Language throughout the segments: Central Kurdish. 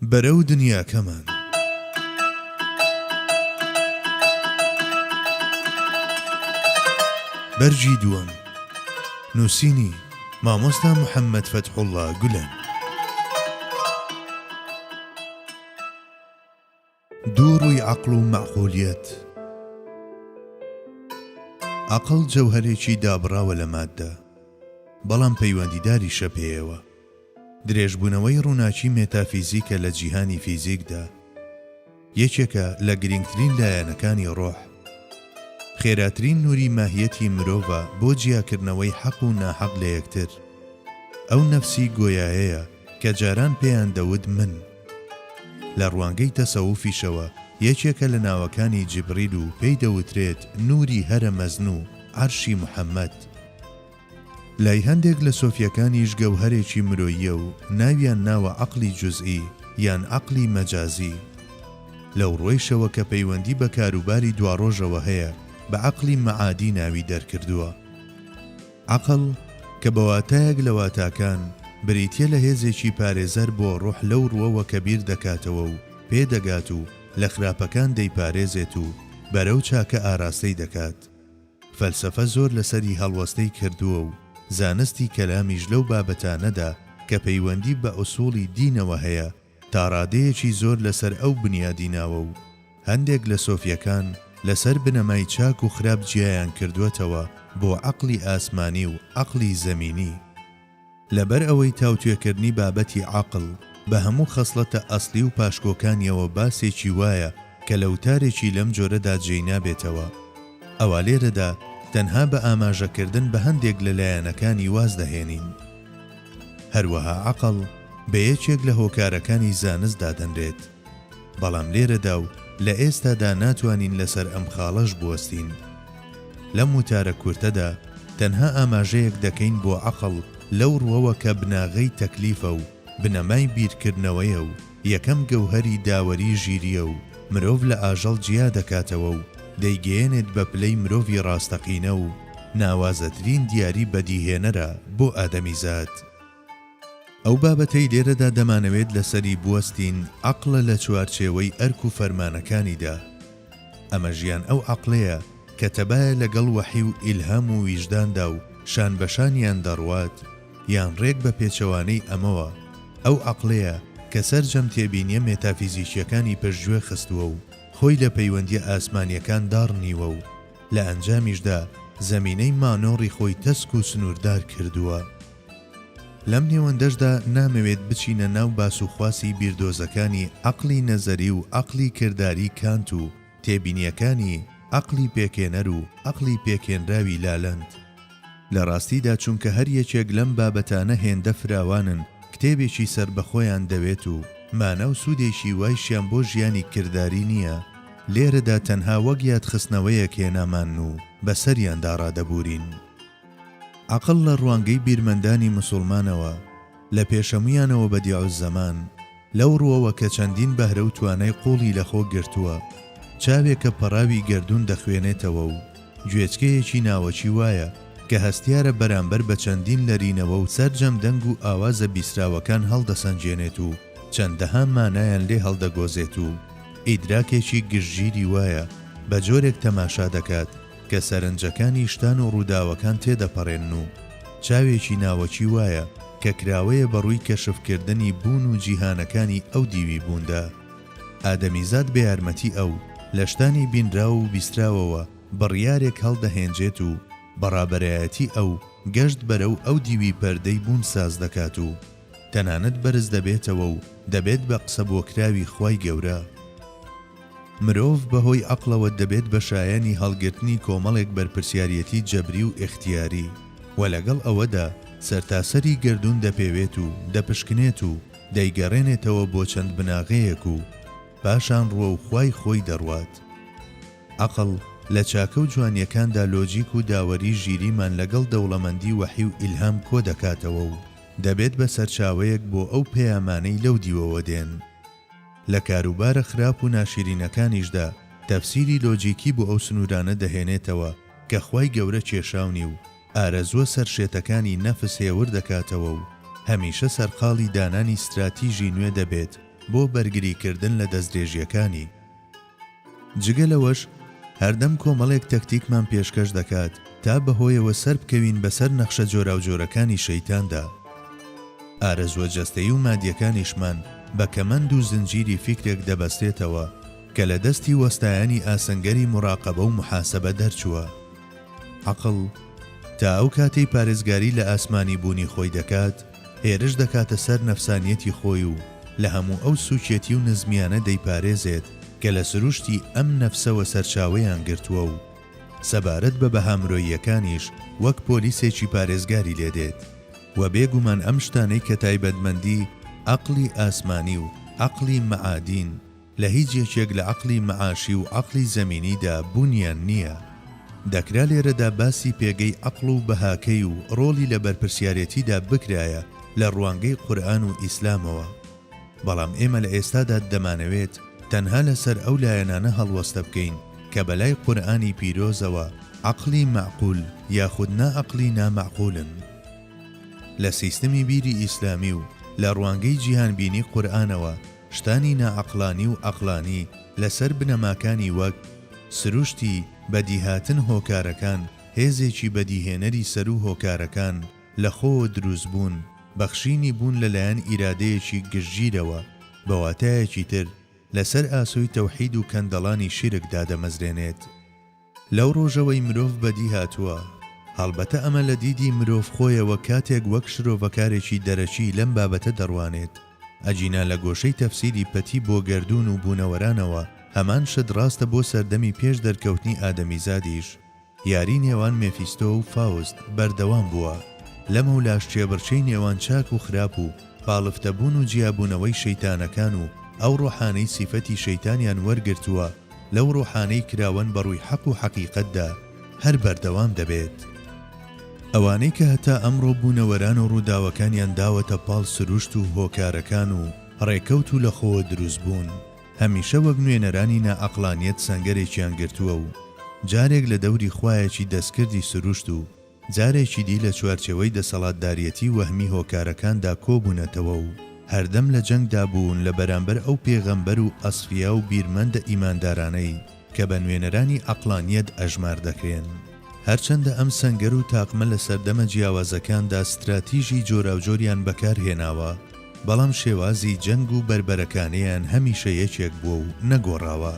بەرەو دنیاکەمان. بەرگی دووەم. نووسینی، مامۆستا محەممەد فەتحوڵڵا گولەن. دوو ڕووی عەقڵ و مەعقولیەت عەقڵ جەوهەرێکی دابڕاوە لە ماددە، بەڵام پەیوەندیداریشە پێیەوە. درێژبوونەوەی ڕووناکی مێتافیزیکە لە جیهانی فیزیکدا. یەکێکە لە گرینگترین لایەنەکانی ڕۆح. خێراترین نووری ماهیەتی مرۆڤە بۆ جیاکردنەوەی حەق و ناحەق لە یەکتر. ئەو نەفسی گۆیایەیە کە جاران پێیان دەوت من. لە ڕوانگەی تەسەوفیشەوە یەکێکە لە ناوەکانی جیبریل و پێی دەوترێت نوری هەرە مەزن و عەرشی محەمەد. لای هەندێک لە سۆفیەکانیش گەوهەرێکی مرۆییە و ناویان ناوە عەقلی جوزئی یان عەقلی مەجازی. لەو ڕوەیشەوە کە پەیوەندی بە کاروباری دواڕۆژەوە هەیە بە عەقلی مەعادی ناوی دەرکردووە. عەقڵ، کە بە واتایەک لە واتاکان، بریتییە لە هێزێکی پارێزەر بۆ ڕۆح لەو ڕووەوە کە بیر دەکاتەوە و پێ دەگات و لە خراپەکان دەیپارێزێت و بەرەو چاکە ئاراستەی دەکات. فەلسەفە زۆر لەسەری هەڵوەستەی کردووە و زانستی کەلامیش لەو بابەتانەدا کە پەیوەندی بە ئوسووڵی دینەوە هەیە، تاڕادەیەکی زۆر لەسەر ئەو بنیادی ناوە و هەندێک لە سۆفیەکان لەسەر بنەمای چاک و خراپ جیایان کردووەتەوە بۆ عەقڵی ئاسمانی و عەقڵی زەمینی لەبەر ئەوەی تاوتوێکردنی بابەتی عەقڵ بە هەموو خەسڵەتە ئەسڵی و پاشکۆکانیەوە باسێکی وایە کە لە وتارێکی لەم جۆرەدا جێی نابێتەوە ئەوا لێرەدا تەنها بە ئاماژەکردن بە هەندێک لە لایەنەکانی واز دەهێنین. هەروەها عەقڵ بە یەکێک لە هۆکارەکانی زانست دادەنرێت، بەڵام لێرەدا و لە ئێستادا ناتوانین لەسەر ئەم خاڵەش بوەستین. لەم وتارە کورتەدا تەنها ئاماژەیەک دەکەین بۆ عەقڵ لەو ڕوەوە کە بناغەی تەکلیفە و بنەمای بیرکردنەوەیە و، یەکەم گەوهەری داوەری ژیرییە و مرۆڤ لە ئاژەڵ جیا دەکاتەوە و دەیگەیەنێت بە پلەی مرۆڤی ڕاستەقینە و ناوازەترین دیاری بەدیهێنەرە بۆ ئادەمیزاد. ئەو بابەتەی لێرەدا دەمانەوێت لەسەری بوەستین عەقڵە لە چوارچێوەی ئەرک و فەرمانەکانیدا، ئەمە ژیان ئەو عەقڵەیە کە تەبایە لە گەڵ وەحی و ئیلهام و ویژداندا و شان بە شانیان دەڕوات، یان ڕێک بە پێچەوانەی ئەمەوە، ئەو عەقڵەیە کە سەرجەم تێبینیە مێتافیزیکیەکانی پشتگوێ خستووە و خۆی لە پەیوەندیە ئاسمانیەکان داڕنیوە و لە ئەنجامیشدا زەمینەی مانۆڕی خۆی تەسک و سنووردار کردووە. لەم نێوەندەشدا نامەوێت بچینە ناو باس و خواسی بیردۆزەکانی عەقڵی نەزەری و عەقڵی کرداری کانت و تێبینیەکانی عەقڵی پێکهێنەر و عەقڵی پێکهێنراوی لالەند لە ڕاستیدا چونکە هەر یەکێک لەم بابەتانە هێندە فراوانن کتێبێکی سەربەخۆیان دەوێت و مانا و سودێکی وایشیان بۆ ژیانی کرداری نییە، لێرەدا تەنها وەک یادخستنەوەیەک هێنامان و بەسەریاندا ڕادەبورین. عەقڵ لە ڕوانگەی بیرمەندانی مسوڵمانەوە، لە پێشەمویانەوە بەدیعوززەمان، لەو ڕوەوە کە چەندین بەهرە و توانای قوڵی لە خۆ گرتووە، چاوێکە پەڕاوی گەردوون دەخوێنێتەوە و گوێچکەیەکی ناوەکی وایە کە هەستیارە بەرامبەر بە چەندین لەرینەوە و سەرجەم دەنگ و ئاوازە بیسراوەکان هەڵدەسەنگێنێت و چەندەها مانایان لێ هەڵدەگۆزێت و ئیدراکێکی گشتگیری وایە بە جۆرێک تەماشا دەکات کە سەرنجەکانی شتان و ڕووداوەکان تێدەپەڕێنن و چاوێکی ناوەکی وایە کە کراوەیە بە ڕووی کەشفکردنی بوون و جیهانەکانی ئەو دیوی بووندا. ئادەمیزاد بە یارمەتی ئەو، لە شتانی بینراو و بیستراوەوە بڕیارێک هەڵدەهێنجێت و بە ڕابەرایەتی ئەو، گەشت بەرەو ئەو دیوی پەردەی بوون ساز دەکات و تەنانەت بەرز دەبێتەوە و دەبێت بە قسەبۆکراوی خوای گەورە. مرۆڤ بە هۆی عەقڵەوە دەبێت بە شایەنی هەڵگرتنی کۆمەڵێک بەرپرسیاریەتی جەبری و ئیختیاری و لەگەڵ ئەوەدا سەرتاسەری گەردوون دەپێوێت و دەپشکنێت و دەیگەڕێنێتەوە بۆ چەند بناغەیەک و پاشان ڕووە و خوای خۆی دەڕوات. عەقڵ لە چاکە و جوانیەکاندا لۆجیک و داوەری ژیریمان لەگەڵ دەوڵەمەندی وەحی و ئیلهام کۆدەکاتەوە و دەبێت بە سەرچاوەیەک بۆ ئەو پەیامانەی لەو دیوەوە دێن. لە کاروبارە خراپ و ناشیرینەکانیشدا تەفسیری لۆجیکی بۆ ئەو سنوورانە دەهێنێتەوە کە خوای گەورە کێشاونی و ئارەزووە سەرشێتەکانی نەفس هێور دەکاتەوە و هەمیشە سەرقاڵی دانانی ستراتیژی نوێ دەبێت بۆ بەرگریکردن لە دەستدرێژییەکانی جگە لەوەش هەردەم کۆمەڵێک تەکتیکمان پێشکەش دەکات تا بەهۆیەوە سەربکەوین بەسەر نەخشە جۆراوجۆرەکانی شەیتاندا. ئارەزووە جەستەیی و مادیەکانیشمان بە کەمەند و زنجیری فیکرێک دەبەستێتەوە کە لە دەستی وەستایانی ئاسنگەری موراقەبە و موحاسەبە دەرچووە. عەقڵ تا ئەو کاتەی پارێزگاری لە ئاسمانی بوونی خۆی دەکات، هێرش دەکاتە سەر نەفسانیەتی خۆی و لە هەموو ئەو سوکیەتی و نزمیانە دەیپارێزێت کە لە سروشتی ئەم نەفسەوە سەرچاوەیان گرتووە و سەبارەت بە بەها مرۆییەکانیش وەک پۆلیسێکی پارێزگاری لێ دێت و بێ گومان ئەم شتانەی کە تایبەتمەندی عەقڵی ئاسمانی و عەقڵی مەعادین لە هیچ یەکێک لە عەقڵی مەعاشی و عەقڵی زەمینیدا بوونیان نییە. دەکرا لێرەدا باسی پێگەی عەقڵ و بەهاکەی و ڕۆڵی لە بەرپرسیارێتیدا بکرایە لە ڕوانگەی قورئان و ئیسلامەوە. بەڵام ئێمە لە ئێستادا دەمانەوێت تەنها لەسەر ئەو لایەنانە هەڵوەستە بکەین کە بەلای قورئانی پیرۆزەوە عەقڵی مەعقول یاخود نا عەقڵی نا مەعقولن. لە سیستمی بیری ئیسلامی و لە ڕوانگەی جیهانبینی قورئانەوە، شتانی ناعەقلانی و عەقلانی لەسەر بنەماکانی وەک، سروشتی، بەدیهاتن هۆکارەکان، هێزێکی بەدیهێنەری سەروو هۆکارەکان، لەخۆوە دروستبوون، بەخشینی بوون لەلایەن ئیرادەیەکی گشتگیرەوە، بەواتایەکی تر لەسەر ئاسۆی تەوحید و کەندەڵانی شیرک دادەمەزرێنێت. لەو ڕۆژەوەی مرۆڤ بەدی هاتووە، هەڵبەتە ئەمە لە دیدی مرۆڤ خۆیەوە کاتێک وەک شرۆڤەکارێکی دەرەکی لەم بابەتە دەڕوانێت، ئەگینا لە گۆشەی تەفسیری پەتی بۆ گەردوون و بوونەوەرانەوە هەمان شت ڕاستە بۆ سەردەمی پێش دەرکەوتنی ئادەمیزادیش، یاری نێوان مێفیستۆ و فاوست بەردەوام بووە، لەمەولاش کێبڕکێی نێوان چاک و خراپ و پاڵفتە بوون و جیابوونەوەی شەیتانەکان و ئەو ڕۆحانەی سیفەتی شەیتانیان وەرگرتووە، لەو ڕۆحانەی کراوەن بە ڕووی حەق و حەقیقەتدا هەر بەردەوام دەبێت. ئەوانەی کە هەتا ئەمڕۆ بوونەوەران و ڕووداوەکانیان داوەتە پاڵ سروشت و هۆکارەکان و ڕێکەوت و لە خۆوە دروست بوون، هەمیشە وەک نوێنەرانی نا عەقڵانیەت سەنگەرێکیان گرتووە و جارێک لە دەوری خوایەکی دەستکردی سروشت و جارێکی دی لە چوارچێوەی دەسەڵاتداریەتی وەهمی هۆکارەکاندا کۆبوونەتەوە و هەردەم لە جەنگدا بوون لە بەرامبەر ئەو پێغەمبەر و ئەسفیا و بیرمەندە ئیماندارانەی کە بە نوێنەرانی عەقڵانیەت ئەژمار دەکرێن. هەرچەندە ئەم سەنگەر و تاقمە لە سەردەمە جیاوازەکاندا ستراتیژی جۆراوجۆریان بەکارهێناوە، بەڵام شێوازی جەنگ و بەربەرەکانێیان هەمیشە یەکێک بووە و نەگۆڕاوە.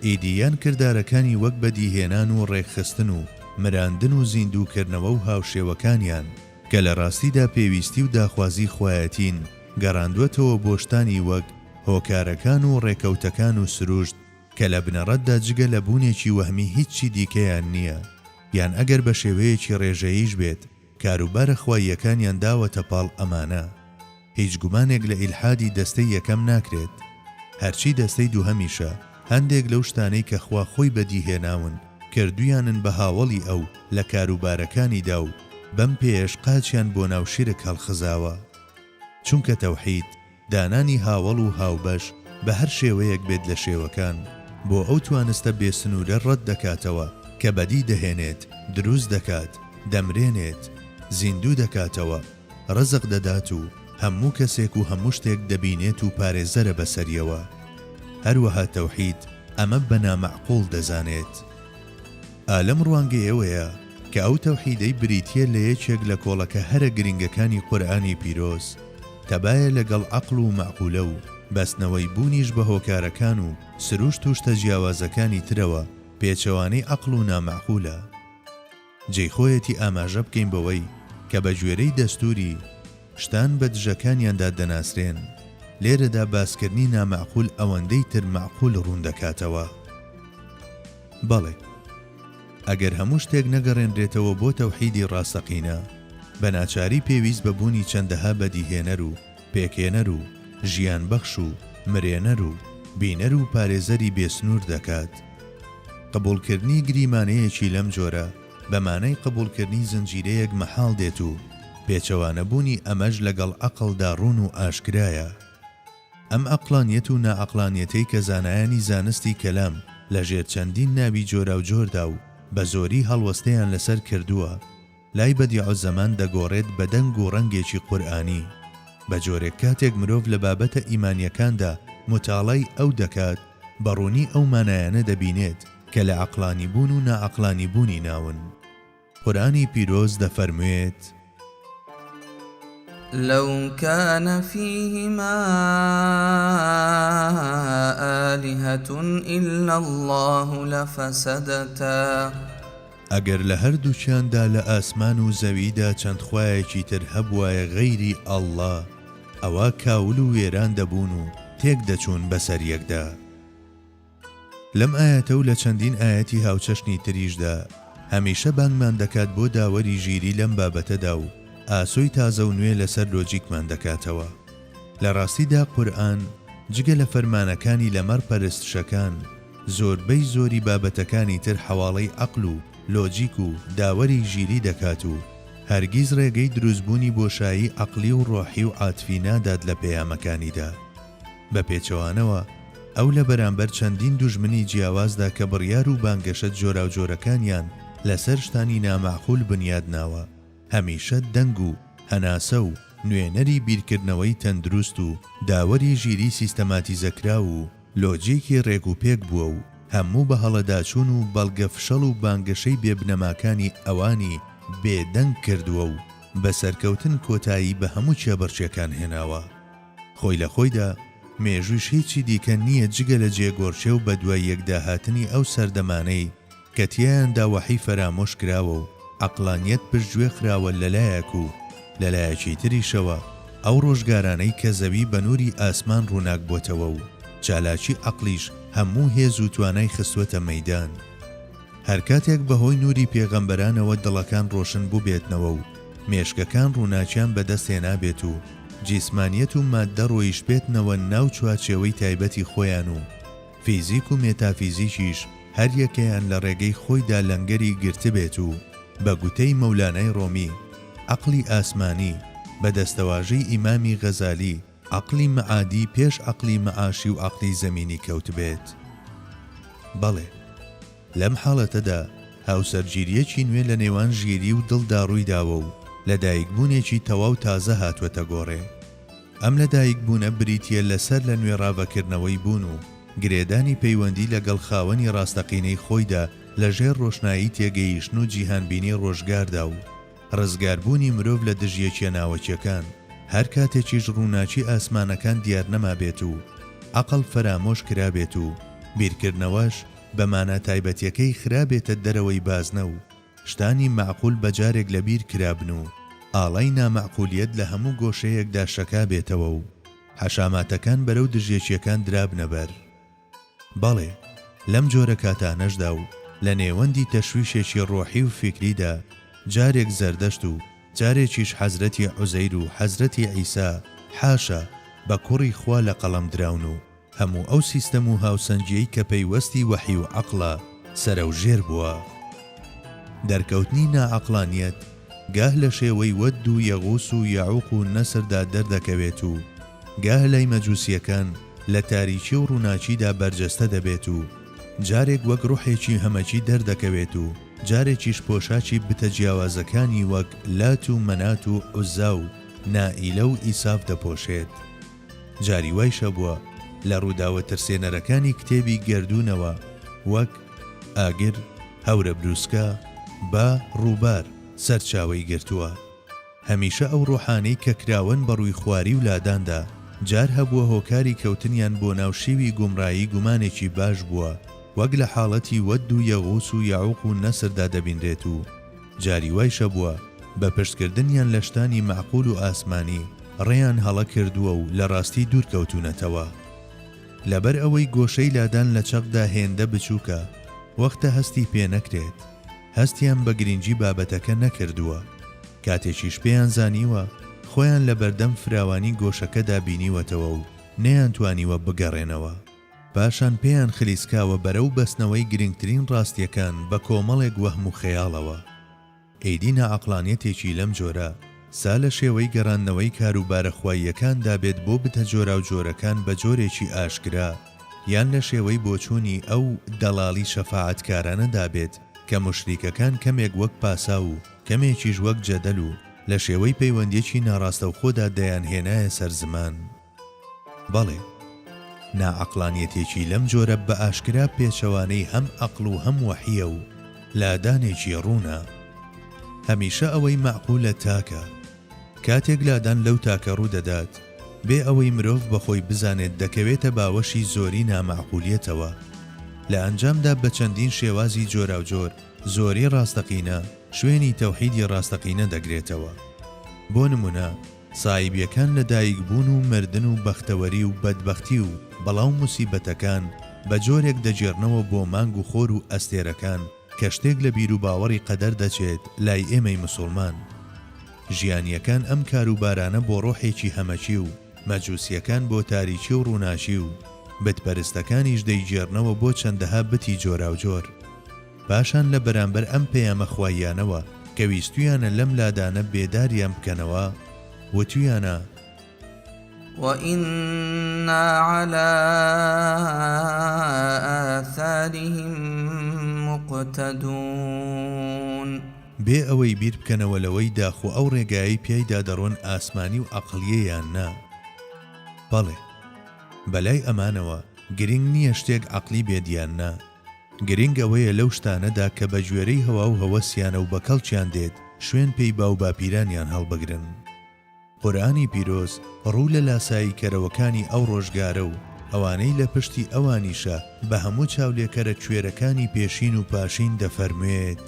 ئیدی یان کردارەکانی وەک بەدیهێنان و ڕێکخستن و مراندن و زیندووکردنەوە و هاوشێوەکانیان، کە لە ڕاستیدا پێویستی و داخوازی خوایەتین، گەڕاندووەتەوە بۆ شتانی وەک هۆکارەکان و ڕێکەوتەکان و سروشت، کە لە بنەڕەتدا جگە لە بوونێکی وەهمی هیچی دیکەیان نییە، یان ئەگەر بە شێوەیەکی ڕێژەییش بێت، کاروبارە خواییەکانیان داوەتە پاڵ ئەمانە، هیچ گومانێک لە ئیلحادی دەستەی یەکەم ناکرێت، هەرچی دەستەی دووهەمیشە هەندێک لەو شتانەی کە خوا خۆی بەدی هێناون کردویانن بە هاوەڵی ئەو لە کاروبارەکانیدا و بەم پێیەش قاچیان بۆ ناو شیرک هەڵخزاوە چونکە تەوحید دانانی هاوەڵ و هاوبەش بە هەر شێوەیەک بێت لە شێوەکان بۆ ئەو توانستە بێ سنوورە ڕەت دەکاتەوە کە بەدی دەهێنێت، دروست دەکات، دەمرێنێت، زیندوو دەکاتەوە، ڕزق دەدات و هەموو کەسێک و هەموو شتێک دەبینێت و پارێزەرە بەسەریەوە. هەروەها تەوحید ئەمە بە نامەعقوڵ دەزانێت. ئا لەم ڕوانگەیەوەیە کە ئەو تەوحیدەی بریتییە لە یەکێک لە کۆڵەکە هەرە گرینگەکانی قورئانی پیرۆز، تەبایە لەگەڵ عەقڵ و مەعقولە و بەستنەوەی بوونیش بە هۆکارەکان و سروشت و شتە جیاوازەکانی ترەوە پێچەوانەی عەقڵ و نامەعقولە. جێی خۆیەتی ئاماژە بکەین بەوەی کە بە گوێرەی دەستووری، شتان بە دژەکانیاندا دەناسرێن، لێرەدا باسکردنی نامەعقول ئەوەندەی تر مەعقول ڕوون دەکاتەوە. بەڵێ! ئەگەر هەموو شتێک نەگەڕێنرێتەوە بۆ تەوحیدی ڕاستەقینە، بە ناچاری پێویست بە بوونی چەندەها بەدیهێنەر و پێکهێنەر و ژیانبەخش و مرێنەر و بینەر و پارێزەری بێ سنوور دەکات. قبووڵکردنی گریمانەیەکی لەم جۆرە بە مانای قبووڵکردنی زنجیرەیەک مەحاڵ دێت و پێچەوانەبوونی ئەمەش لەگەڵ عەقڵدا ڕوون و ئاشکرایە. ئەم عەقڵانیەت و ناعەقڵانیەتەی کە زانایانی زانستی کەلام لە ژێر چەندین ناوی جۆراوجۆردا و بە زۆری هەڵوەستەیان لە سەر کردووە، لای بەدیعوزەمان دەگۆڕێت بە دەنگ و ڕەنگێکی قورئانی. بە جۆرێک کاتێک مرۆڤ لە بابەتە ئیمانیەکاندا موتاڵای ئەو دەکات، بە ڕوونی ئەو مانایانە دەبینێت کە لە عەقڵانیبوون و ناعەقڵانیبوونی ناون. قورئانی پیرۆز دەفەرموێت. لو کان فیهما آلهة الا الله لفسدتا. ئەگەر لە هەردووکیاندا لە ئاسمان و زەویدا چەند خوایەکی تر هەبوایە غەیری اللە ئەوا کاول و وێران دەبوون و تێک دەچوون بەسەر یەکدا. لەم ئایەتە و لە چەندین ئایەتی هاوچەشنی تریشدا هەمیشە بانگمان دەکات بۆ داوەری ژیری لەم بابەتەدا و ئاسۆی تازە و نوێ لەسەر لۆجیکمان دەکاتەوە. لە ڕاستیدا قورئان جگە لە فەرمانەکانی لەمەڕ پەرستشەکان، زۆربەی زۆری بابەتەکانی تر حەواڵەی عەقل و لۆجیک و داوەری ژیری دەکات و هەرگیز ڕێگەی دروستبوونی بۆشایی عەقلی و ڕۆحی و عاتفی نادات لە پەیامەکانیدا. بە پێچەوانەوە، ئەو لە بەرامبەر چەندین دوژمنی جیاوازدا کە بڕیار و بانگەشە جۆراوجۆرەکانیان لەسەر شتانی نامەعقول بنیاد ناوە، هەمیشە دەنگ و هەناسە و نوێنەری بیرکردنەوەی تەندروست و داوەری ژیریی سیستەماتیزەکراو و لۆجیکی رێکوپێک بووە و هەموو بەهەڵەداچوون و بەڵگە فشەڵ و بانگەشەی بێ بنەماکانی ئەوانی بێدەنگ کردووە و بە سەرکەوتن کۆتایی بە هەموو کێبڕکێکان هێناوە. خۆی لە خۆیدا، مێژوویش هیچی دیکە نییە جگە لە جێگۆرکێ و بەدوای یەکداهاتنی ئەو سەردەمانەی کە تیایاندا وەحی فەرامۆش کراوە و عەقڵانییەت پشتگوێ خراوە لە لایەک و لە لایەکی تریشەوە ئەو ڕۆژگارانەی کە زەوی بە نووری ئاسمان ڕووناک بۆتەوە و چالاکی عەقڵیش هەموو هێز و توانای خستووەتە مەیدان. هەر کاتێک بەهۆی نوری پێغەمبەرانەوە دڵەکان ڕۆشن بوبێتنەوە و مێشکەکان ڕووناکیان بەدەست هێنابێت و جیسمانیەت و ماددە ڕۆیشتبێتنەوە ناو چوارچێوەی تایبەتی خۆیان و فیزیک و مێتافیزیکیش هەر یەکەیان لە ڕێگەی خۆیدا لەنگەری گرتبێت و بە گوتەی مەولانای ڕۆمی عەقڵی ئاسمانی بە دەستەواژەی ئیمامی غەزالی عەقڵی مەعادی پێش عەقڵی مەعاشی و عەقڵی زەمینی کەوتبێت؟ بەڵێ. لەم حاڵەتەدا هاوسەرگیرییەکی نوێ لە نێوان ژیری و دڵدا ڕوویداوە و لەدایکبوونێکی تەواو تازە هاتووەتە گۆڕێ. ئەم لەدایکبوونە بریتییە لە سەر لە نوێ ڕاڤەکردنەوەی بوون و گرێدانی پەیوەندی لەگەڵ خاوەنی ڕاستەقینەی خۆیدا لەژێر ڕۆشنایی تێگەیشتن و جیهانبینی ڕۆژگاردا و ڕزگاربوونی مرۆڤ لە دژیەکیە ناوەکیەکان، هەر کاتێکیش ڕووناکی ئاسمانەکان دیارنەمابێت و عەقڵ فەرامۆش کرابێت و بیرکردنەوەش بە مانا تایبەتیەکەی خرابێتە دەرەوەی بازنە و شتانی مەعقول بە جارێک لە بیر کرابن و ئاڵای نامەعقولیەت لە هەموو گۆشەیەکدا شەکابێتەوە و حەشاماتەکان بەرەو دژیەکیەکان درابنە بەر بەڵێ، لەم جۆرە کاتانەشدا و لە نێوەندی تەشویشێکی ڕۆحی و فیکریدا، جارێک زەردەشت و جارێکیش حەزرەتی عوزەیر و حەزرەتی عیسا، حاشا، بە کوڕی خوا لە قەڵەم دراون و هەموو ئەو سیستەم و هاوسەنگییەی کە پەیوەستی وەحی و عەقڵە، سەرەوژێر بووە. دەرکەوتنی ناعەقڵانییەت گاه لە شێوەی وەد و یەغوس و یەعوق و نەسردا دەردەکەوێت و گاه لای مەجوسییەکان، لە تاریکی و ڕووناکیدا بەرجەستە دەبێت و جارێک وەک ڕۆحێکی هەمەکی دەردەکەوێت و جارێکیش پۆشاکی بتە جیاوازەکانی وەک لات و مەنات و عوزا و نائیلە و ئیساف دەپۆشێت. جاری وایش هەبووە لە ڕووداوە ترسێنەرەکانی کتێبی گەردوونەوە وەک، ئاگر، هەورەبروسکە، با، ڕووبار، سەرچاوەی گرتووە. هەمیشە ئەو ڕۆحانەی کە کراوەن بە ڕووی خواری و لاداندا، جار هەبووە هۆکاری کەوتنیان بۆ ناو شێوی گومڕایی گومانێکی باش بووە، وەک لە حاڵەتی وەد و یەغوس و یەعوق و نەسردا دەبینرێت و جاری وایشە بووە بە پشتکردنیان لە شتانی مەعقول و ئاسمانی ڕێیان هەڵە کردووە و لە ڕاستی دوور کەوتوونەتەوە. لەبەر ئەوەی گۆشەی لادان لە چەقدا هێندە بچووکە وەختە هەستی پێ نەکرێت، هەستیان بە گرینگی بابەتەکە نەکردووە، کاتێکیش پێیان زانیوە، خۆیان لە بەردەم فراوانی گۆشەکەدا بینیوەتەوە و نەیانتوانیوە بگەڕێنەوە. پاشان پێیان خلیسکاوە بەرەو بەستنەوەی گرینگترین ڕاستیەکان بە کۆمەڵێک وەهم و خەیاڵەوە. ئیدی ناعەقڵانیەتێکی لەم جۆرە، سا لە شێوەی گەڕاندنەوەی کاروبارە خواییەکاندا بێت بۆ بتە جۆراوجۆرەکان بە جۆرێکی ئاشکرا، یان لە شێوەی بۆچوونی ئەو دەڵاڵی شەفاعەتکارانەدا بێت کە موشریکەکان کەمێک وەک پاساو و کەمێکیش وەک جەدەل و لە شێوەی پەیوەندیەکی ناڕاستەوخۆدا دەیانهێنایە سەر زمان. بەڵێ، ناعەقڵانیەتێکی لەم جۆرە بە ئاشکرا پێچەوانەی هەم عەقڵ و هەم وەحییە و لادانێکی ڕوونە. هەمیشە ئەوەی مەعقولە تاکە. کاتێک لادان لەو تاکە ڕوو دەدات، بێ ئەوەی مرۆڤ بە خۆی بزانێت دەکەوێتە باوەشی زۆری نامەعقولیەتەوە. لە ئەنجامدا بە چەندین شێوازی جۆراوجۆر زۆری ڕاستەقینە شوێنی تەوحیدی ڕاستەقینە دەگرێتەوە. بۆ نموونە، سایبیەکان لە دایک بوون و مردن و بەختەوەری و بەدبەختی و بەڵا و موسیبەتەکان بە جۆرێک دەگێڕنەوە بۆ مانگ و خۆر و ئەستێرەکان کە شتێک لە بیروباوەڕی قەدەر دەچێت لای ئێمەی مسوڵمان ژیانیەکان ئەم کاروبارانە بۆ ڕۆحێکی هەمەکی و مەجوسیەکان بۆ تاریکی و ڕووناکی و بت پەرستەکانیش دەیگێڕنەوە بۆ چەندەها بتی جۆراوجۆر. پاشان لە بەرامبەر ئەم پەیامە خواییانەوە کە ویستویانە لەم لادانە بێداریان بکەنەوە وتویانە. وإنا علی آثارهم مقتدون. بێ ئەوەی بیر بکەنەوە لەوەی داخۆ ئەو ڕێگایەی پیایدا دەڕۆن ئاسمانی و عەقڵیە یان نا. بەڵێ. بەلای ئەمانەوە گرینگ نیە شتێک عەقلی بێت یان نا. گرنگ ئەوەیە لەو شتانەدا کە بە گوێرەی هەوا و هەوەسیانە و بە کەڵکیان دێت، شوێن پێی باوباپیرانیان هەڵبگرن. قورئانی پیرۆز ڕوو لە لاساییکەرەوەکانی ئەو ڕۆژگارە و ئەوانەی لە پشتی ئەوانیشە بە هەموو چاولێکەرە کوێرەکانی پێشین و پاشین دەفەرموێت،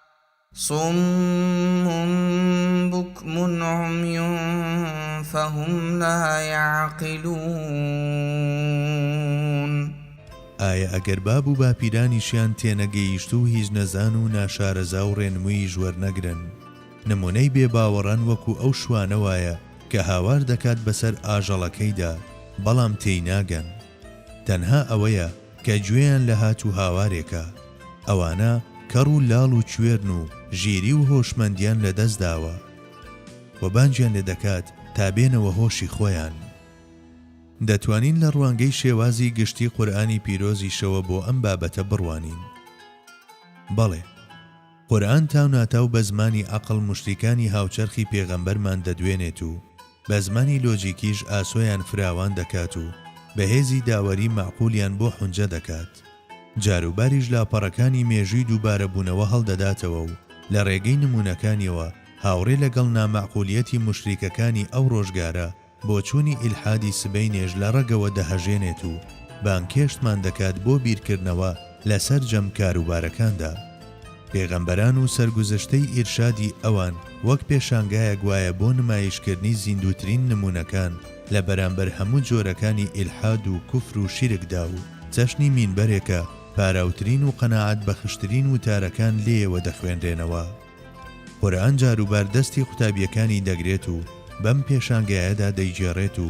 صم بکم عمی فهم لا یعقلون. ئایا ئەگەر باب و باپیرانیشیان تێنەگەیشتوو هیچ نەزان و ناشارەزا و ڕێنموویش وەرنەگرن نمونەی بێ باوەڕان وەکو ئەو شوانە وایە کە هاوار دەکات بەسەر ئاژەڵەکەیدا بەڵام تێیناگەن تەنها ئەوەیە کە گوێیان لە هات و هاوارێکە، ئەوانە کەڕ و لاڵ و کوێرن و ژیری و هۆشمەندیان لە دەست داوە و بانگیان لێ دەکات تا بێنەوە هۆشی خۆیان. دەتوانین لە ڕوانگەی شێوازی گشتی قورئانی پیرۆزیشەوە بۆ ئەم بابەتە بڕوانین. بەڵێ! قورئان تاوناتاو بە زمانی عەقڵ موشریکانی هاوچەرخی پێغەمبەرمان دەدوێنێت و بە زمانی لۆجیکیش ئاسۆیان فراوان دەکات و بە هێزی داوەری مەعقولیان بۆ حونجە دەکات جاروباریش لاپەڕەکانی مێژووی دووبارەبوونەوە هەڵدەداتەوە و لە ڕێگەی نموونەکانیەوە هاوڕێ لەگەڵ نامەعقولیەتی موشریکەکانی ئەو ڕۆژگارە بۆچوونی ئیلحادی سبەینێش لە ڕەگەوە دەهەژێنێت و بانگهێشتمان دەکات بۆ بیرکردنەوە لە سەرجەم کاروبارەکاندا. پێغەمبەران و سەرگوزشتەی ئیرشادی ئەوان وەک پێشانگایەک وایە بۆ نمایشکردنی زیندووترین نموونەکان لە بەرامبەر هەموو جۆرەکانی ئیلحاد و کوفر و شیرکدا و چەشنی مینبەرێکە پاراوترین و قەناعەتبەخشترین وتارەکان لێیەوە دەخوێنرێنەوە. قورئان جاروبار دەستی قوتابییەکانی دەگرێت و بەم پێشانگایەدا دەیگێڕێت و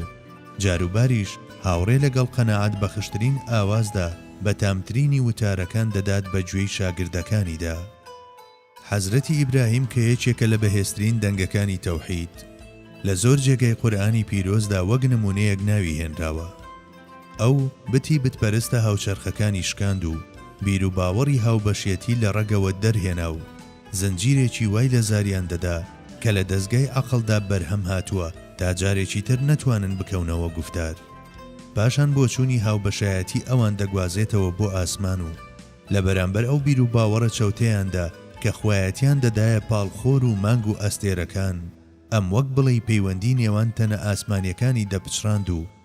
جاروباریش هاوڕێ لەگەڵ قەناعەت بەخشترین ئاوازدا بەتامترینی وتارەکان دەدات بە گوێی شاگردەکانیدا. حەزرەتی ئیبراهیم کە یەکێکە لە بەهێزترین دەنگەکانی تەوحید، لە زۆر جێگای قورئانی پیرۆزدا وەک نموونەیەک ناوی هێنراوە. ئەو بتی بتپەرستە هاوچەرخەکانی شکاند و بیروباوەڕی هاوبەشێتی لە ڕەگەوە دەرهێنا و زنجیرێکی وای لە زاریان دەدا کە لە دەزگای عەقڵدا بەرهەم هاتووە تا جارێکی تر نەتوانن بکەونەوە گوفتار. پاشان بۆچوونی هاوبەشایەتی ئەوان دەگوازێتەوە بۆ ئاسمان و لە بەرامبەر ئەو بیروباوەڕە چەوتەیاندا کە خوایەتیان دەدایە پاڵ خۆر و مانگ و ئەستێرەکان، ئەم وەک بڵێی پەیوەندی نێوان تەنە ئاسمانیەکانی دەپچڕاند و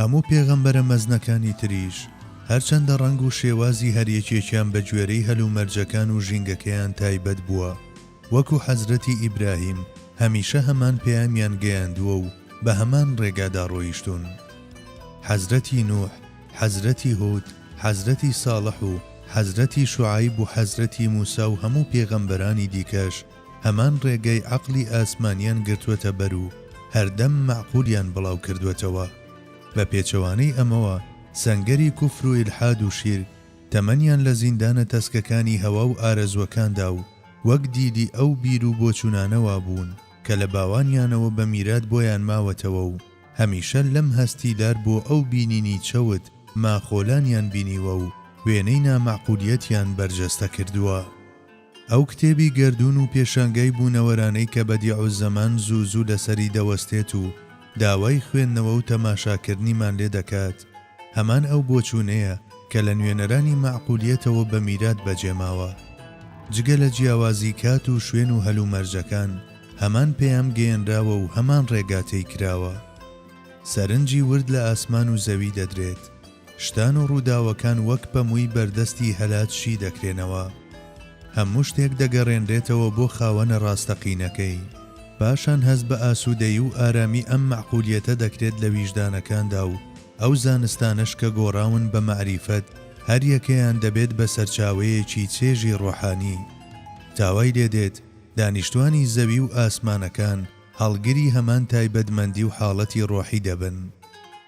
هەموو پێغەمبەرە مەزنەکانی تریش هەرچەندە ڕەنگ و شێوازی هەریەکێکیان بە گوێرەی هەلومەرجەکان و ژینگەکەیان تایبەت بووە وەکو حەزرەتی ئیبراهیم هەمیشە هەمان پەیامیان گەیاندووە و بە هەمان ڕێگادا ڕۆیشتوون حەزرەتی نوح حەزرەتی هود حەزرەتی ساڵح و حەزرەتی شوعەیب و حەزرەتی موسا و هەموو پێغەمبەرانی دیکەش هەمان ڕێگای عەقڵی ئاسمانیان گرتووەتە بەر و هەردەم مەعقولیان بڵاو کردووەتەوە. بە پێچەوانەی ئەمەوە سەنگەری کوفر و ئیلحاد و شیرک تەمەنیان لە زیندانە تەسکەکانی هەوا و ئارەزووەکاندا و وەک دیدی ئەو بیر و بۆچوونانە وابوون کە لە باوانیانەوە بە میرات بۆیان ماوەتەوە و هەمیشە لەم هەستی لار بۆ ئەو بینینی چەوت ماخۆلانیان بینیوە و وێنەی نامەعقولیەتیان بەرجەستە کردووە. ئەو کتێبی گەردوون و پێشانگای بوونەوەرانەی کە بەدیعوزەمان زوو زوو لەسەری دەوەستێت و داوای خوێندنەوە و تەماشاکردنیمان لێ دەکات، هەمان ئەو بۆچوونەیە کە لە نوێنەرانی مەعقولیەتەوە بە میرات بەجێ ماوە. جگە لە جیاوازی کات و شوێن و هەلومەرجەکان، هەمان پەیام گەیەنراوە و هەمان ڕێگا تەی کراوە. سەرنجی ورد لە ئاسمان و زەوی دەدرێت. شتان و ڕووداوەکان وەک پەمووی بەردەستی هەلات شی دەکرێنەوە. هەموو شتێک دەگەڕێنرێتەوە بۆ خاوەنە ڕاستەقینەکەی. پاشان هەست بە ئاسوودەیی و ئارامی ئەم مەعقولیەتە دەکرێت لە ویژدانەکاندا و ئەو زانستانەش کە گۆڕاون بە مەعریفەت هەریەکەیان دەبێت بە سەرچاوەیەکی چێژی ڕۆحانی. تا وای لێ دێت دانیشتوانی زەوی و ئاسمانەکان هەڵگری هەمان تایبەتمەندی و حاڵەتی ڕۆحی دەبن.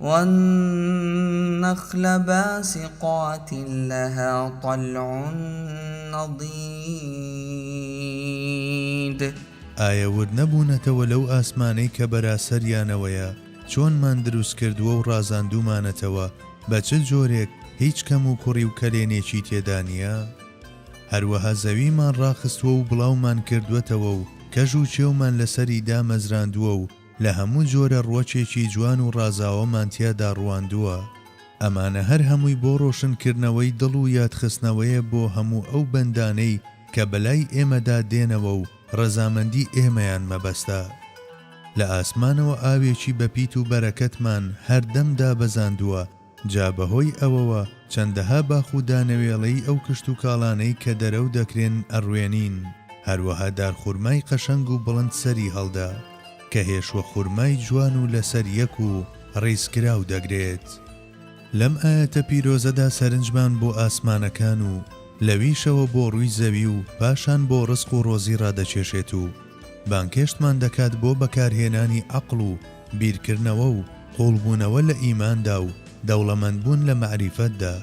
والنخل باسقات لها طلع نضید. ئایا ورد نەبوونەتەوە لەو ئاسمانەی کە بەراسەریانەوەیە چۆنمان دروست کردووە و ڕازاندوومانەتەوە بە چ جۆرێک هیچ کەم و کوڕی و کەلێنێکی تێدا نییە؟ هەروەها زەویمان ڕاخستووە و بڵاومان کردووەتەوە و کەژ و چێومان لەسەری دامەزراندووە و لە هەموو جۆرە ڕوەکێکی جوان و ڕازاوەمان تیادا ڕوواندووە، ئەمانە هەر هەمووی بۆ ڕۆشنکردنەوەی دڵ و یادخستنەوەیە بۆ هەموو ئەو بەندانەی کە بەلای ئێمەدا دێنەوە و ڕەزامەندی ئێمەیان مەبەستە. لە ئاسمانەوە ئاوێکی بەپیت و بەرەکەتمان هەردەم دابەزاندووە، جا بەهۆی ئەوەوە چەندەها باخ و دانەوێڵەی ئەو کشتوکاڵانەی کە دەرەو دەکرێن ئەڕوێنین، هەروەها دارخورمای قەشەنگ و بڵند سەری هەڵدا، کە هێشوە خورمای جوان و لەسەر یەک و ڕیزکراو دەگرێت. لەم ئایەتە پیرۆزەدا سەرنجمان بۆ ئاسمانەکان و لەویشەوە بۆ ڕووی زەوی و پاشان بۆ ڕزق و ڕۆزی ڕادەکێشێت و بانگهێشتمان دەکات بۆ بەکارهێنانی عەقڵ و بیرکردنەوە و قوڵبوونەوە لە ئیماندا و دەوڵەمەندبوون لە مەعریفەتدا.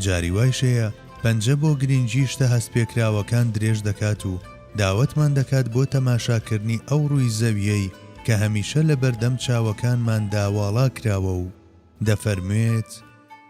جاری وایش هەیە پەنجە بۆ گرینگی شتە هەستپێکراوەکان درێژ دەکات و داوەتمان دەکات بۆ تەماشاکردنی ئەو ڕووی زەوییەی کە هەمیشە لەبەردەم چاوەکانماندا واڵا کراوە و دەفەرموێت،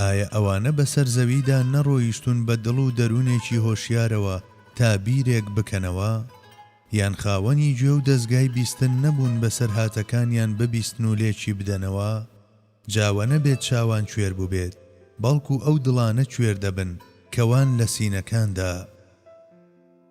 ئایا ئەوانە بەسەر زەویدا نەڕۆیشتوون بە دڵ و دەروونێکی هۆشیارەوە تا بیرێک بکەنەوە؟ یان خاوەنی گوێ و دەزگای بیستن نەبوون بەسەرهاتەکانیان ببیستن و لێکی بدەنەوە؟ جا وە نەبێت چاوان کوێر بووبێت، بەڵکو ئەو دڵانە کوێر دەبن کە وان لە سینەکاندا.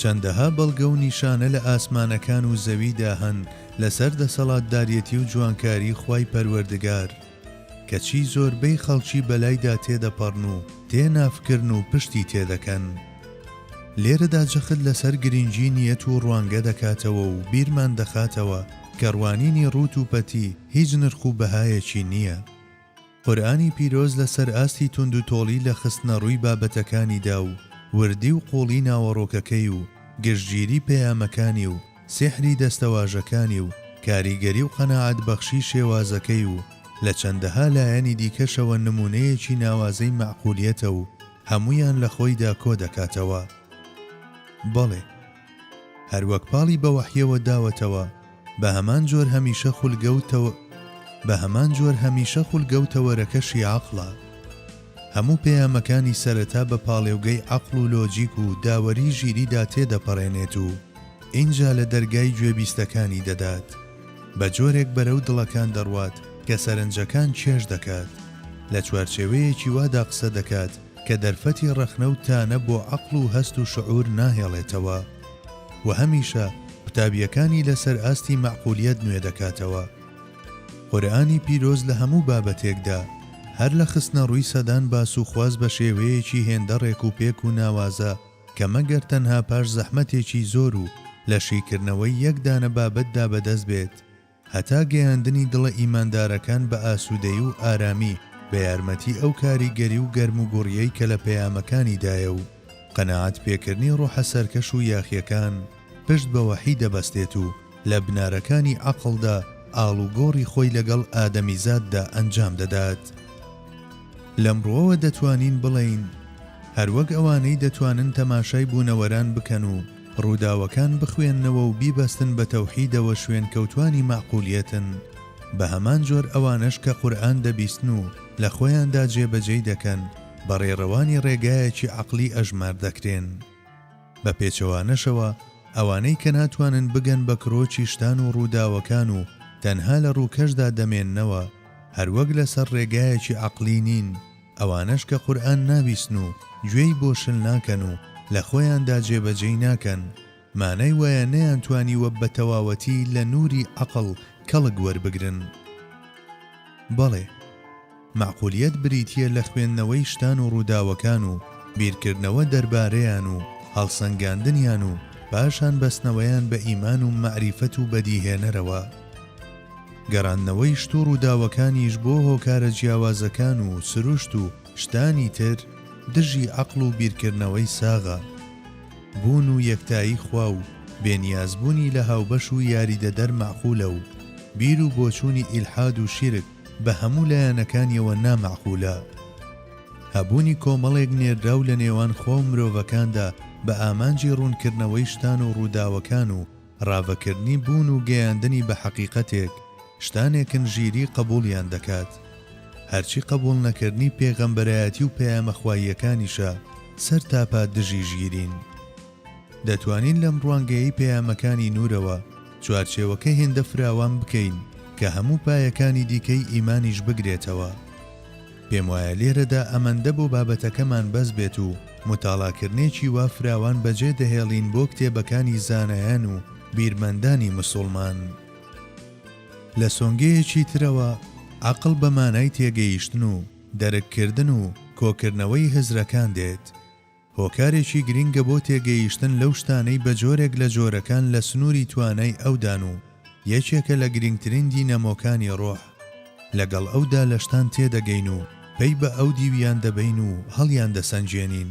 چەندەها بەڵگە و نیشانە لە ئاسمانەکان و زەویدا هەن لەسەر دەسەڵاتداریەتی و جوانکاری خوای پەروەردگار، کەچی زۆربەی خەڵکی بەلایدا تێدەپەڕن و تێ نافکرن و پشتی تێدەکەن. لێرەدا جەخت لەسەر گرنگی نیەت و ڕوانگە دەکاتەوە و بیرمان دەخاتەوە کە ڕوانینی ڕووت و پەتی هیچ نرخ و بەهایەکی نیە. قورئانی پیرۆز لەسەر ئاستی توندوتۆڵی لە خستنەڕووی بابەتەکانیدا و وردی و قووڵی ناوەڕۆکەکەی و گشتگیری پەیامەکانی و سیحری دەستەواژەکانی و کاریگەری و قەناعەتبەخشی شێوازەکەی و لە چەندەها لایەنی دیکەشەوە نموونەیەکی ناوازەی مەعقولیەتە و هەموویان لە خۆیدا کۆدەکاتەوە. بەڵێ! هەروەک پاڵی بە وەحیەوە داوەتەوە بەهەمان جۆر هەمیشە خولگە و تەوە بەهەمان جۆر هەمیشە خولگە و تەوەرەکەشی عەقڵە هەموو پەیامەکانی سەرەتا بە پاڵێوگەی عەقڵ و لۆجیک و داوەری ژیریدا تێدەپەڕێنێت و ئینجا لە دەرگای گوێبیستەکانی دەدات بە جۆرێک بەرەو دڵەکان دەڕوات کە سەرنجەکان کێش دەکات لە چوارچێوەیەکی وادا قسە دەکات کە دەرفەتی ڕەخنە و تانە بۆ عەقڵ و هەست و شعور ناهێڵێتەوە و هەمیشە قوتابییەکانی لەسەر ئاستی مەعقولیەت نوێ دەکاتەوە. قورئانی پیرۆز لە هەموو بابەتێکدا، هەر لە خستنەڕووی سەدان باس و خواست بە شێوەیەکی هێندە ڕێک و پێک و ناوازە کە مەگەر تەنها پاش زەحمەتێکی زۆر و لە شیکردنەوەی یەک دانە بابەتدا بەدەست بێت، هەتا گەیاندنی دڵە ئیماندارەکان بە ئاسوودەیی و ئارامی بە یارمەتی ئەو کاریگەری و گەرموگوڕیەی کە لە پەیامەکانی دایە و قەناعەت پێکردنی ڕۆحە سەرکەش و یاخیەکان پشت بە وەحی دەبەستێت و لە بنارەکانی عەقڵدا ئاڵوگۆڕی خۆی لەگەڵ ئادەمیزاددا ئەنجام دەدات. لەم ڕوەوە دەتوانین بڵێین هەروەک ئەوانەی دەتوانن تەماشای بوونەوەران بکەن و، ڕووداوەکان بخوێننەوە و بیبەستن بە تەوحیدەوە شوێنکەوتوانی مەعقولیەتن، بە هەمان جۆر ئەوانەش کە قورئان دەبیستن و لە خۆیاندا جێبەجێی دەکەن بە ڕێڕەوانی ڕێگایەکی عەقلی ئەژمار دەکرێن. بە پێچەوانەشەوە ئەوانەی کە ناتوانن بگەن بە کرۆکی شتان و ڕووداوەکان و تەنها لە ڕووکەشدا دەمێننەوە هەروەک لەسەر ڕێگایەکی عەقلی نین، ئەوانەش کە قورئان نابیسن و گوێی بۆ شل ناکەن و لە خۆیاندا جێ بە جێی ناکەن، مانای وایە نەیانتوانیوە بە تەواوەتی لە نووری عەقڵ کەڵک وەربگرن. بەڵێ، مەعقولیەت بریتییە لە خوێندنەوەی شتان و ڕووداوەکان و بیرکردنەوە دەربارەیان و هەڵسەنگاندنیان و پاشان بەستنەوەیان بە ئیمان و مەعریفەت و بەدیهێنەرەوە. گەراندنەوەی شت و ڕووداوەکانیش بۆ هۆکارە جیاوازەکان و سروشت و شتانی تر دژی عەقڵ و بیرکردنەوەی ساغە. بوون و یەکتایی خوا و بێ نیاز بوونی لە هاوبەش و یاریدەدەر مەعقولە و بیر و بۆچوونی ئیلحاد و شیرک بە هەموو لایەنەکانیەوە نا مەعقولە. هەبوونی کۆمەڵێک نێردراو لە نێوان خوا و مرۆڤەکاندا بە ئامانجی ڕوونکردنەوەی شتان و ڕووداوەکان و ڕاڤەکردنی بوون و گەیاندنی بە حەقیقەتێک، شتانێکن ژیری قەبووڵیان دەکات. هەرچی قەبووڵ نەکردنی پێغەمبەرایەتی و پەیامە خواییەکانیشە، سەرتاپا دژی ژیرین. دەتوانین لەم ڕوانگەیەی پەیامەکانی نوورەوە، چوارچێوەکە هێندە فراوان بکەین کە هەموو پایەکانی دیکەی ئیمانیش بگرێتەوە. پێموایە لێرەدا ئەمەندە بۆ بابەتەکەمان بەس بێت و متاڵاکرنێکی وا فراوان بەجێ دەهێڵین بۆ کتێبەکانی زانایان و بیرمەندانی مسوڵمان. لە سۆنگەیەکی ترەوە، عەقڵ بە مانای تێگەیشتن و دەرک کردن و کۆکردنەوەی هزرەکان دێت. هۆکارێکی گرنگە بۆ تێگەیشتن لەو شتانەی بە جۆرێک لە جۆرەکان لە سنووری توانای ئەودان و یەکێکە لە گرنگترین دینەمۆکانی ڕۆح. لەگەڵ ئەودا لە شتان تێدەگەین و پەی بە ئەو دیویان دەبەین و هەڵیاندەسەنگێنین.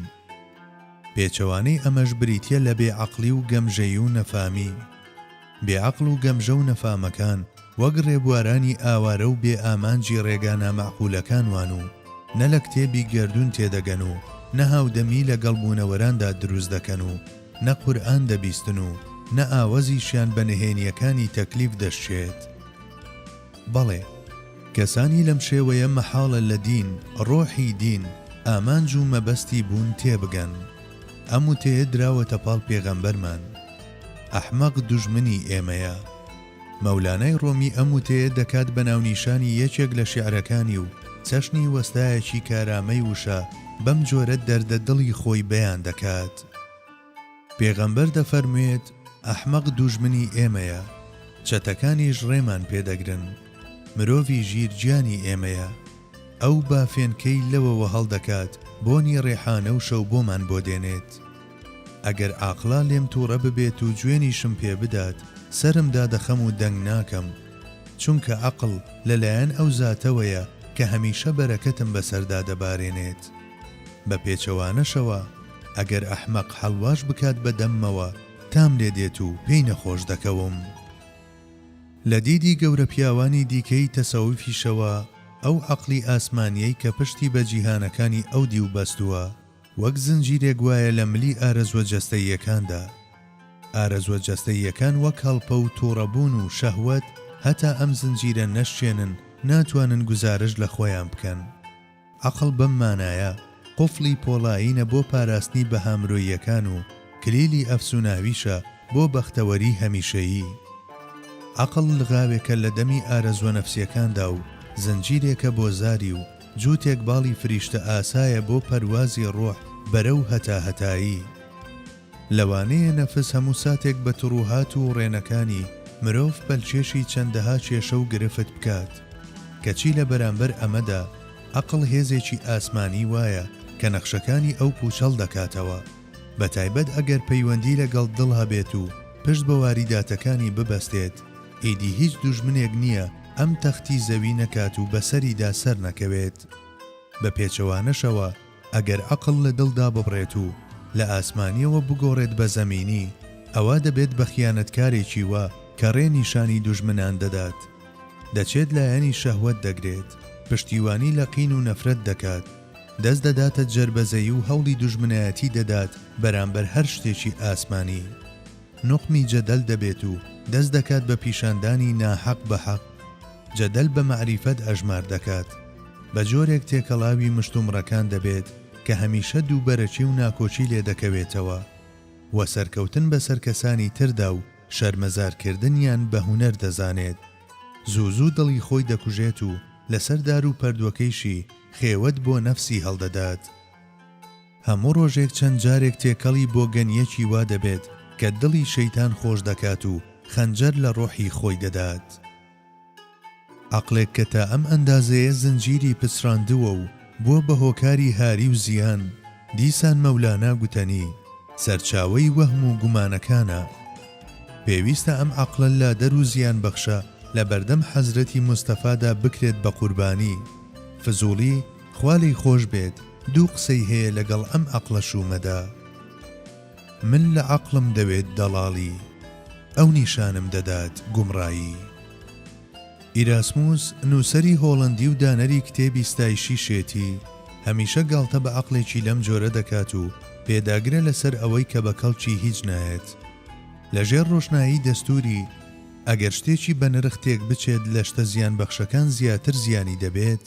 پێچەوانەی ئەمەش بریتییە لە بێ عەقڵی و گەمژەیی و نەفامی. بێ عەقڵ و گەمژە و نەفامەکان وەک ڕێبوارانی ئاوارە و بێ ئامانجی ڕێگا نامەعقولەکان وان و نە لە کتێبی گەردوون تێدەگەن و نە هاودەمی لە گەڵ بوونەوەراندا دروست دەکەن و نە قورئان دەبیستن و نە ئاوەزیشیان بە نهێنییەکانی تەکلیف دەشکێت. بەڵێ کەسانی لەم شێوەیە مەحاڵە لە دین، ڕۆحی دین، ئامانج و مەبەستی بوون تێبگەن. ئەم وتەیە دراوەتە پاڵ پێغەمبەرمان. ئەحمەق دوژمنی ئێمەیە. مەولانای ڕۆمی ئەم وتەیە دەکات بە ناونیشانی یەکێک لە شیعرەکانی و چەشنی وەستایەکی کارامەی وشە بەم جۆرە دەردە دڵی خۆی بەیان دەکات. پێغەمبەر دەفەرموێت، ئەحمەق دوژمنی ئێمەیە، چەتەکانیش ڕێمان پێ دەگرن. مرۆڤی ژیر گیانی ئێمەیە. ئەو بافێنکەی لەوەوە هەڵدەکات، بۆنی ڕێحانە و شەوبۆمان بۆ دێنێت. ئەگەر ئاقلا لێم توڕە ببێت و جوێنیشم پێ بدات سەرم دادەخەم و دەنگ ناکەم چونکە ئەقڵ لە لایەن ئەو زاتەوەیە کە هەمیشە بەرەکەتم بەسەردا دەبارێنێت بە پێچەوانەشەوە ئەگەر ئەحمەق حەلواش بکات بە دەممەوە تام لێ دێت و پێی نەخۆش دەکەوم. لە دیدی گەورە پیاوانی دیکەی تەسەوفیشەوە ئەو ئەقڵی ئاسمانیەی کە پشتی بە جیهانەکانی ئەو دیو بەستووە وەک زنجیرێک وایە لە ملی ئارەزوە جەستەییەکاندا. ئارەزوە جەستەییەکان وەک هەڵپە و توڕەبوون و شەهوەت، هەتا ئەم زنجیرە نەشکێنن، ناتوانن گوزارشت لە خۆیان بکەن. عەقڵ بەم مانایە، قوفڵی پۆڵایینە بۆ پاراستنی بەها مرۆییەکان و کلیلی ئەفسوناویشە بۆ بەختەوەریی هەمیشەیی. عەقڵ لغاوێکە لە دەمی ئارەزوە نەفسیەکاندا و زنجیرێکە بۆ زاری و جووتێک باڵی فریشتە ئاسایە بۆ پەروازی ڕۆح بەرەو هەتاهەتایی. لەوانەیە نەفس هەموو ساتێک بە تڕوهات و ڕێنەکانی مرۆڤ پەلکێشی چەندەها کێشە و گرفت بکات. کەچی لە بەرامبەر ئەمەدا عەقڵ هێزێکی ئاسمانی وایە کە نەخشەکانی ئەو پووچەڵ دەکاتەوە، بە تایبەت ئەگەر پەیوەندی لەگەڵ دڵ هەبێت و پشت بە واریداتەکانی ببەستێت، ئیدی هیچ دوژمنێک نییە ئەم تەختی زەوی نەکات و بەسەریدا سەر نەکەوێت. بە پێچەوانەشەوە ئەگەر عەقڵ لە دڵدا ببڕێت و لە ئاسمانیەوە بگۆڕێت بە زەمینی، ئەوا دەبێت بە خیانەتکارێکی وا کە ڕێ نیشانی دوژمنان دەدات. دەچێت لایەنی شەهوەت دەگرێت، پشتیوانی لە قین و نەفرەت دەکات، دەست دەداتە جەربەزەیی و هەوڵی دوژمنایەتی دەدات بەرامبەر هەر شتێکی ئاسمانی. نوقمی جەدەل دەبێت و دەست دەکات بە پیشاندانی ناحەق بە حەق، جەدەل بە مەعریفەت ئەژمار دەکات، بە جۆرێک تێکەڵاوی مشتومڕەکان دەبێت کە هەمیشە دووبەرەکی و ناکۆکی لێ دەکەوێتەوە و سەرکەوتن بەسەر کەسانی تردا و شەرمەزارکردنیان بە هونەر دەزانێت، زوو زوو دڵی خۆی دەکوژێت و لەسەر دار و پەردوەکەیشی خێوەت بۆ نەفسی هەڵدەدات. هەموو ڕۆژێک چەند جارێک تێکەڵی بۆگەنییەکی وا دەبێت کە دڵی شەیتان خۆش دەکات و خەنجەر لە ڕۆحی خۆی دەدات. عەقڵێک کە تا ئەم ئەندازەیە زنجیری پچڕاندووە و بووە بە هۆکاری هاری و زیان، دیسان مەولانا گوتەنی، سەرچاوەی وەهم و گومانەکانە. پێویستە ئەم عەقڵە لادەر و زیانبەخشە لە بەردەم حەزرەتی مستەفادا بکرێت بە قوربانی. فزوڵی؟ خوا لێی خۆش بێت دوو قسەی هەیە لەگەڵ ئەم عەقڵە شوومەدا من لە عەقڵم دەوێت دەڵاڵی ئەو نیشانم دەدات گومڕایی ئیراسموس نووسەری هۆڵەندی و دانەری کتێبی ستایشی شێتی هەمیشە گاڵتە بە عەقڵێکی لەم جۆرە دەکات و پێداگرە لەسەر ئەوەی کە بە کەڵکی هیچ نایەت لە ژێر ڕۆشنایی دەستووری ئەگەر شتێکی بەنرخ تێک بچێت لە شتە زیانبەخشەکان زیاتر زیانی دەبێت.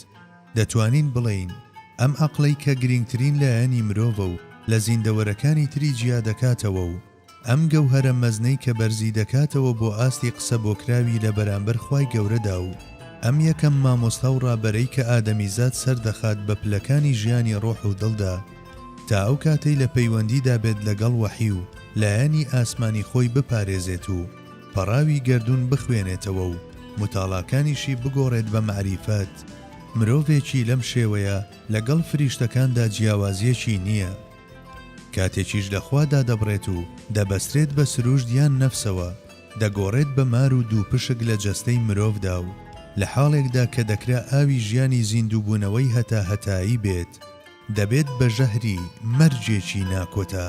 دەتوانین بڵێین ئەم عەقڵەی کە گرینگترین لایەنی مرۆڤە و لە زیندەوەرەکانی تری جیا دەکاتەوە و ئەم گەوهەرە مەزنەی کە بەرزی دەکاتەوە بۆ ئاستی قسە بۆکراوی لە بەرامبەر خوای گەورەدا و ئەم یەکەم مامۆستا و ڕابەرەی کە ئادەمیزاد سەر دەخات بە پلەکانی ژیانی ڕۆح و دڵدا تا ئەو کاتەی لە پەیوەندیدا بێت لەگەڵ وەحی و لایەنی ئاسمانی خۆی بپارێزێت و پەڕاوی گەردوون بخوێنێتەوە و متاڵاکانیشی بگۆڕێت بە مەعریفەت، مرۆڤێکی لەم شێوەیە لە گەڵ فریشتەکاندا جیاوازیەکی نیە. کاتێکیش لە خوا دادەبڕێت و دەبەسترێت بە سروشت یان نەفسەوە، دەگۆڕێت بە مار و دووپشک لە جەستەی مرۆڤدا و لە حاڵێکدا کە دەکرا ئاوی ژیانی زیندووبوونەوەی هەتا هەتایی بێت، دەبێت بە ژەهری مەرجێکی ناکۆتا.